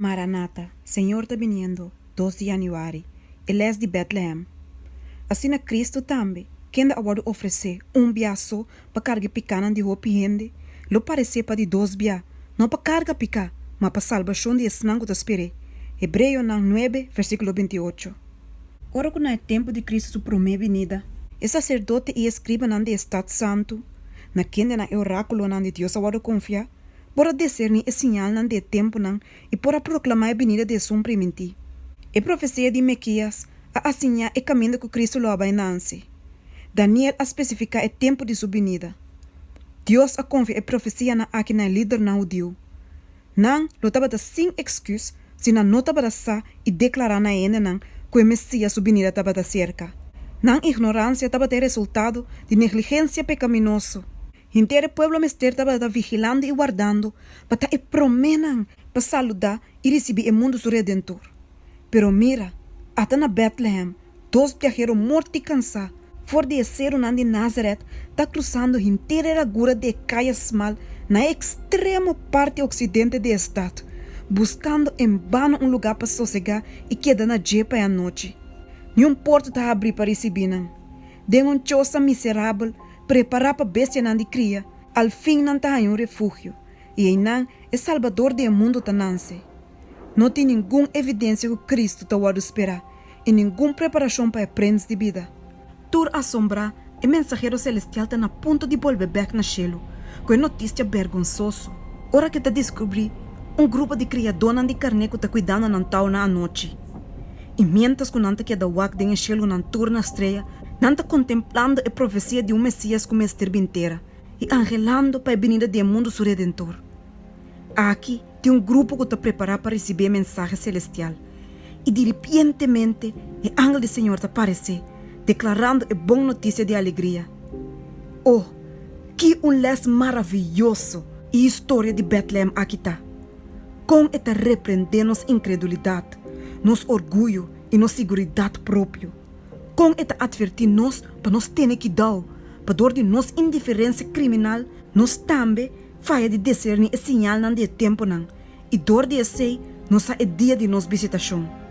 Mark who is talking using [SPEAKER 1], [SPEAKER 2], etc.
[SPEAKER 1] Maranata, Señor ta biniendo, dos di Januari, e les di Betlehem. Asina Cristo tambe, kende a wòrdu ofresé un bia so pa carga e picanan di hopi hende, lo parecé pa di dos bia, no pa carga picá, ma pa salbacion di esnan cu ta sper'é. Hebreonan nuebe, versiculo binti i ocho. Ora cu na e tempu di Cristo su promé binida. E sacerdote i e scribanan di e Stad Santu, na kendenan e oráculonan di Dios a wòrdu confiá, por a deserní e siñalnan di e tempunan i por a proklamá e binida di Esun primintí. E profesia di Mekías a asiñá e kaminda ku Kristu lo a bai nanse. Daniel a spesifiká e tempu di su binida. Dios a konfia e profesianan akí na e lidernan hudiu. Nan lo tabata sin èksküs si nan no tabata sa i deklará na e hendenan ku e Mesías su binida tabata serka. Nan ignoransia tabata e resultado di negligensia pekaminoso Henter e pueblo mester tabata vigilando i wardando pa ta e proménan pa saludá i risibí e mundu su Redentor. Pero mira, ata na Bètlehem dos biahero mort i kansá for di e serunan di Názarèt ta krusando henter e ragura di e kaya smal na e ekstremo parti oksidente di e stat, buskando en bano un lugá pa sosegá i keda na dje pa e anochi. Niun porta ta habrí pa risibí nan. den un chosa miserabel prepará pa bestianan di kria, alfin nan ta haña un refugio, i einan e Salbador di e mundu ta nase. No tin ningun evidensia ku Kristu ta wòrdu sperá, i ningun preparashon pa e Prins di Bida. Tur asombrá, e mensahero selestial ta na punto di bolbe bèk na shelu ku e notistia bèrgonsoso, ora ku e ta diskubrí un grupo di kriadónan di karné ku ta kuidando nan tau na anochi. Sinaí. I miéntras ku nan ta keda wak den e shel ku nan tur na strea, nan ta kontemplando e profesia di un Mesías ku mester bin tera i anhelando pa e binida di e mundu su Redentor. Aki tin un grupo ku ta prepará pa risibí e mensahe selestial, i diripientemente e angel di Señor ta paresé, deklarando e bon notisia di alegria. O, ki un lès maravioso i historia di Bètlehèm aki ta! Kon e ta reprendé nos inkredulidat, nos orguyo i nos siguridat propio? Kon e ta atvertí nos pa nos tene kidau pador di nos indiferensia kriminal? Nos tambe faya di deserní e siñalnan di e tempunan, i dor di esei nos sa e dia di nos bisitashon.